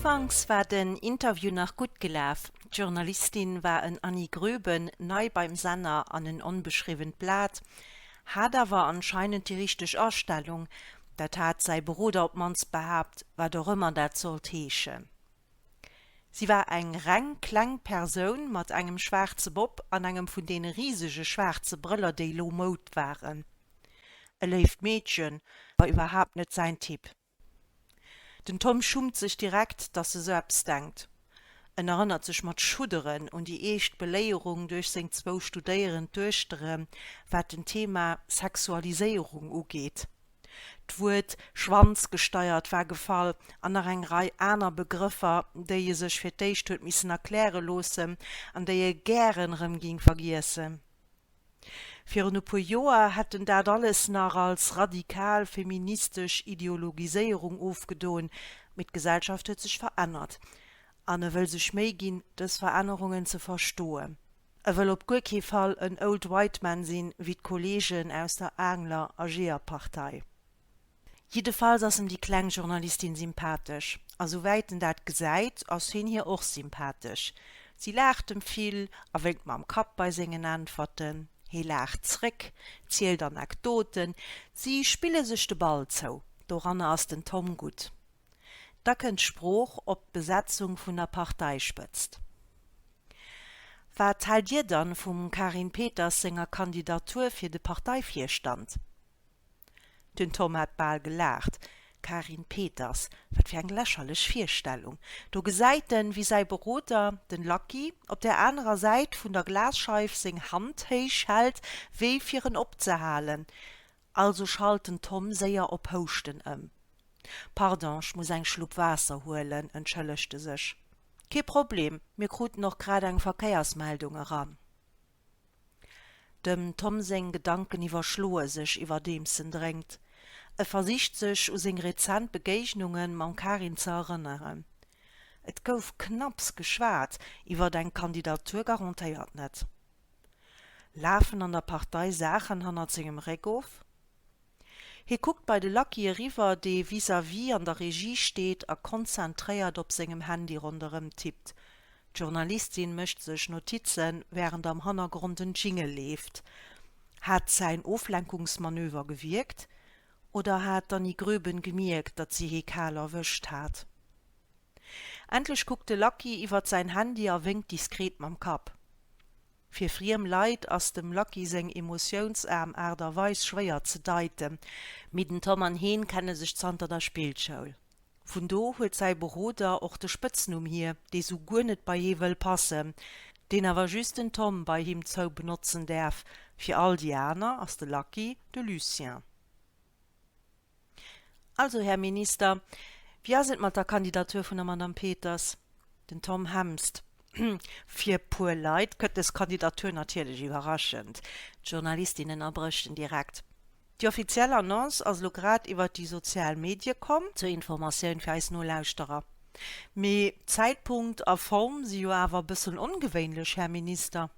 Ufanks war den Interview nach gutt gelaf, d'Journalistin war en Annie Gröben, nei beim Senner an en onbeschriwwent Blat, hat awer anscheinend déi richteg Astellung, dat hat säi Beroder op mannst behaapt, wat och ëmmer dat sollt heeschen. Si war eng reng kleng Persoun mat engem schwaarze Bob an engem vun deene risege schwaarze Brëller, déi elo Moud waren. E léift Meedchen, ma iwwerhaapt net säin Typ. Den Tom schummt sech direkt, dass e sou eppes denkt. En erënnert sech mat Schudderen un déi eescht Beléierung duerch seng zwou studéierend Duechtere wat den Thema Sexualiséierung ugeet. D'Wuert schwanzgesteiert war gefall an nach eng Rei aner Begrëffer, déi e sech fir d'éischt huet missen erkläre loossen an déi e gären erëm géing vergiessen. Virun e puer Joer hätt en dat alles nach als radikal feministesch Ideologiséierung ofgedon, mee d'Gesellschaft huet sech verännert an e wëll sech Méi ginn, dës Verännerungen ze verstoen. E wëll op guer kee Fall en old white man sinn, wéi d'Kolleegen aus der Aangler a Jeeërpartei. Jiddefalls ass em déi kleng Journalistin sympathesch. A souwäit en dat gesäit, ass heen hir och sympathesch. Si laacht em vill a wénkt mam Kapp bei sengen Äntwerten. Hee laacht zréck, zielt Anekdoten. Si spille sech de Ball zou. Doranner ass den Tom gutt. Da kënnt d'Sprooch op d'Besetzung vun der Parteispëtzt. Wat haalt Dir dann vum Carine Peters senger Kandidatur fir de Parteivirstand? Den Tom hat bal gelaacht. Carine Peters, wat fir eng lächerlech Virstellung. Do gesäit en, wéi säi Beroder, den Lucky, op der anerer Säit vun der Glasscheif seng Hand héich hält, wéi fir en opzehalen. Also schalt den Tom séier op Houschten ëm. Pardon, ech muss eng Schlupp Waasser huelen, entschëllegt e sech. Kee Problem, mir kruten och grad eng Verkéiersmeldung eran. Dem Tom seng Gedanken iwwerschloe sech, iwwerdeems en drénkt. E versicht sech u seng rezent Begéignunge mam Karin ze erënneren. Et gouf knapps geschwat, iwwer eng Kandidatur garantéiert net. Lafen an der Partei Saachen hannert sengem Réck of? Hie kuckt bei de Lucky eriwwer, dee vis-à-vis an der Regie steet a konzentréiert op sengem Handy ronderëm tippt. D'Journalistin mécht sech Notizen, wärend am Hannergrond en Jingle leeft. Hat säin Oflenkungsmanöver gewierkt? Oder hat d'Annie Gröben gemierkt, datt si hee kal erwëscht hat? Endlech kuckt de Lucky iwwert säin Handy a wénkt diskret mam Kapp. Fir friem Leit ass dem Lucky seng emotiounsaarm Aart a Weis schwéier ze deiten, mee den Tom an hien kenne sech zanter der Spillschoul. Vun do huet säi Beroder och de Spëtznumm hier, dee sou guer net bei hie wëll passen, deen awer just den Tom bei him zou benotzen däerf, fir all déi aner ass de Lucky de Lucien. Also, Här Minister, wéi ass et mat der Kandidatur vun der Madame Peters? Den Tom Hemst, Fir e puer Leit kënnt dës Kandidatur natierlech iwwerraschend. D'Journalistinnen erbréchten direkt, Déi offiziell Annonce ass elo grad iwwert déi sozial Medie komm. Zur Informatioun fir eis Nolauschterer, mee Zäitpunkt a Form si jo awer e bëssen ongewéinlech, Här Minister.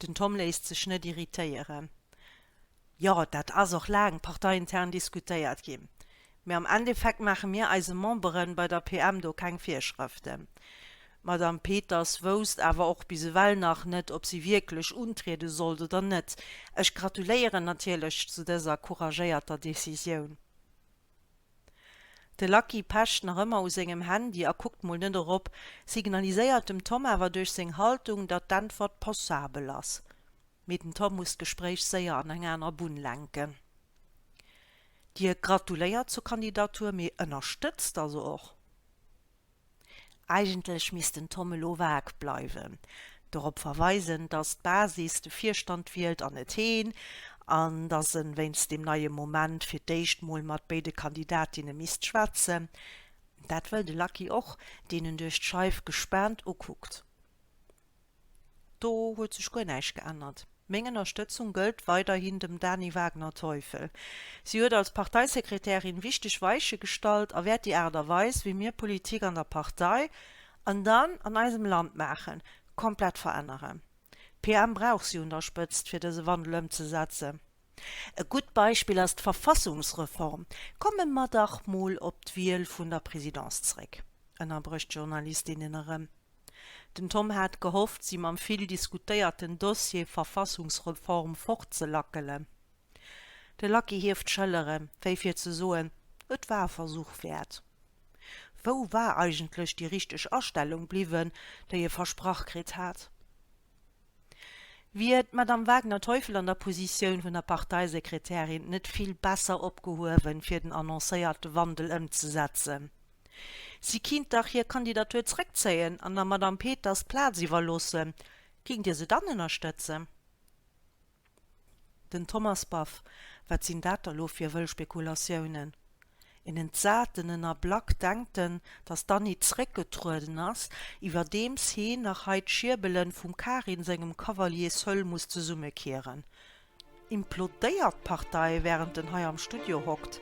Den Tom léisst sech net irritéieren. Jo, dat ass och laang parteiintern diskutéiert ginn, mee am Endeffekt maache mir eise Memberen bei der PM do keng Virschrëften. D'Madame Peters wousst awer och bis ewell nach net, ob si wierklech untriede sollt oder net. Ech gratuléieren natierlech zu dëser couragéierter Decisioun. De Lucky pecht nach ëmmer u sengem Handy a kuckt mol net erop, signaliséiert dem Tom awer duerch seng Haltung, datt d'Äntwert passabel ass. mee den Tom muss d'Gespréich séier an eng aner Bunn lenken. Dir gratuléiert zur Kandidatur, mee ënnerstëtzt also och? Eigentlech misst den Tom elo vag bleiwen, dorop verweisen, datt d'Basis de Virstand wielt an net heen, an datt en wéinst deem neie Moment fir d'éischt mol mat béide Kandidatinne misst schwätzen. Dat wëll de Lucky och, deen en duerch d'Scheif gespaant ukuckt. Do huet sech guer näischt geännert. Meng Ënnerstëtzung gëllt weiderhin dem Dany Wagner-Teufel. Si huet als Parteisekretärin wichteg Weiche gestallt a wäert déi Aart a Weis, wéi mir Politik an der Partei, an dann an eisem Land maachen, komplett veränneren. PM brauch si un der Spëtzt, fir dëse Wandel ëmzesetzen. E gutt Beispill ass d'Verfassungsreform. Komme mer dach mol op d'Wiel vun der Présidence zréck, ënnerbrécht d'Journalist innen erëm. Den Tom hat gehofft, si mam vill diskutéierten Dossier Verfassungsreform fortzelackelen. De Lucky hieft d'Schëllere wéi fir ze soen, et war e Versuch wäert. Wou war eigentlech déi richteg Astellung bliwwen, déi e versprach kritt hat? Wier d'Madame Wagner-Teufel an der Positioun vun der Parteisekretärin net vill besser opgehuewen, fir den annoncéierte Wandel ëmzesetzen? Si kinnt dach hir Kandidatur zréckzéien an der Madame Peters d'Plaz iwwerloossen. Géingt Dir se dann ënnerstëtzen? Den Thomas Baff, Wat sinn dat da lo fir wëll Spekulatiounen? En entsat en en a Black denkt en, datt d'Annie zréckgetrueden ass, iwwerdeems heen nach hei d'Schierbelen vum Karin sengem Cavalier Seul muss zesummekieren. Implodéiert d'Partei, wärend en hei am Studio hockt?